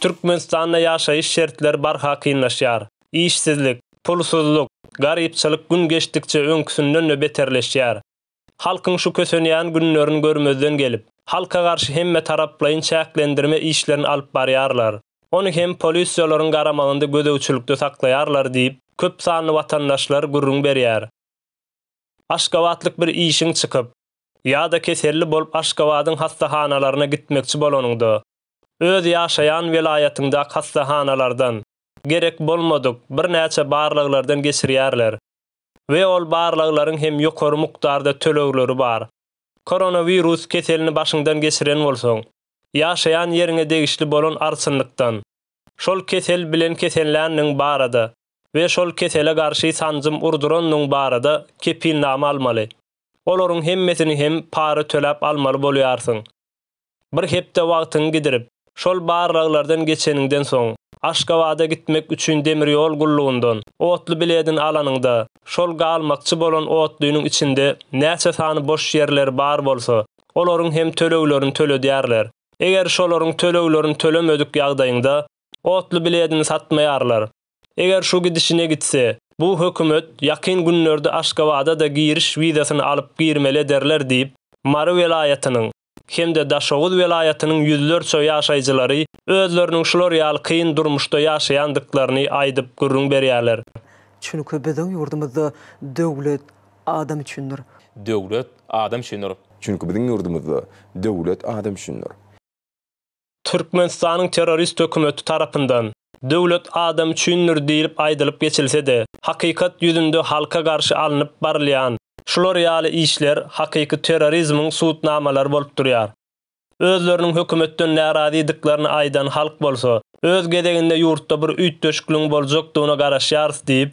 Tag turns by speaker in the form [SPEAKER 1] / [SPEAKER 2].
[SPEAKER 1] Türkmenistanda ýaşaýyş şertleri barha kynlaşýar. Işsizlik, pulsuzlyk, garypçylyk gün geçdikçe öňküsinden-de beterleşýär. Halkyň şu kösenýän günlerini görmezden gelip, halka garşy hemmetaraplaýyn çäklendirme işlerini alyp barýarlar. Ony hem polisiýalaryň garamagynda gözegçilikde saklaýarlar diýip, köp sanly watandaşlar gürrüň berýär. Aşgabatlyk bir işiň çykyp, ýa-da keselli bolup Aşgabadyň hassahanalaryna gitmekçi bolanyňda, öz ýaşaýan welaýatyňdaky hassahanalardan gerek bolmadyk birnäçe barlaglardan geçirýärler we ol barlaglaryň hem ýokary mukdarda tölegleri bar. Koronawirus keselini başyňdan geçiren bolsaň, ýaşaýan ýeriňe degişli bolan arçynlykdan, şol kesel bilen kesenländigiň barada we şol kesele garşy sanjym urdurandygyň barada kepilnama almaly. Olaryň hemmesini hem para töläp almaly bolýarsyň. Bir hepde wagtyňy gidirip, şol barlaglardan geçeniňden soň, Aşgabada gitmek üçin demir ýol gullugyndan otly biledini alanyňda, şol galmakçy bolan otlynyň içinde näçe sany boş ýerleri bar bolsa, olaryň hem töleglerini töledýärler. Eger şolaryň töleglerini tölemedik ýagdaýyňda, otly biledini satmaýarlar. Eger şu gidişine gitse, bu hökümet ýakyn günlerde Aşgabada-da giriş wizasyny alyp girmeli ederler diýip, Mary welaýatynyň hem-de Daşoguz welaýatynyň ýüzlerçe ýaşaýjylary özleriniň şular ýaly kyn durmuşda ýaşaýandyklaryny aýdyp gürrüň berýärler. Çünki
[SPEAKER 2] biziň ýurdumyzda döwlet adam üçindir. Döwlet
[SPEAKER 3] adam üçindir. Çünki biziň ýurdumyzda
[SPEAKER 4] döwlet adam üçindir. Türkmenistanyň
[SPEAKER 1] terrorist hökümeti tarapyndan Döwlet adam üçindir diýlip aýdylyp geçilse-de, hakykat ýüzünde halka garşy alnyp barylýan şular ýaly işler hakyky terrorizmiň subutnamalary bolup durýar. Özleriniň hökümetden närazydyklaryny aýdan halk bolsa, öz gezeginde ýurtda bir üýtgeşikligiň boljakdygyna garaşýarys diýip,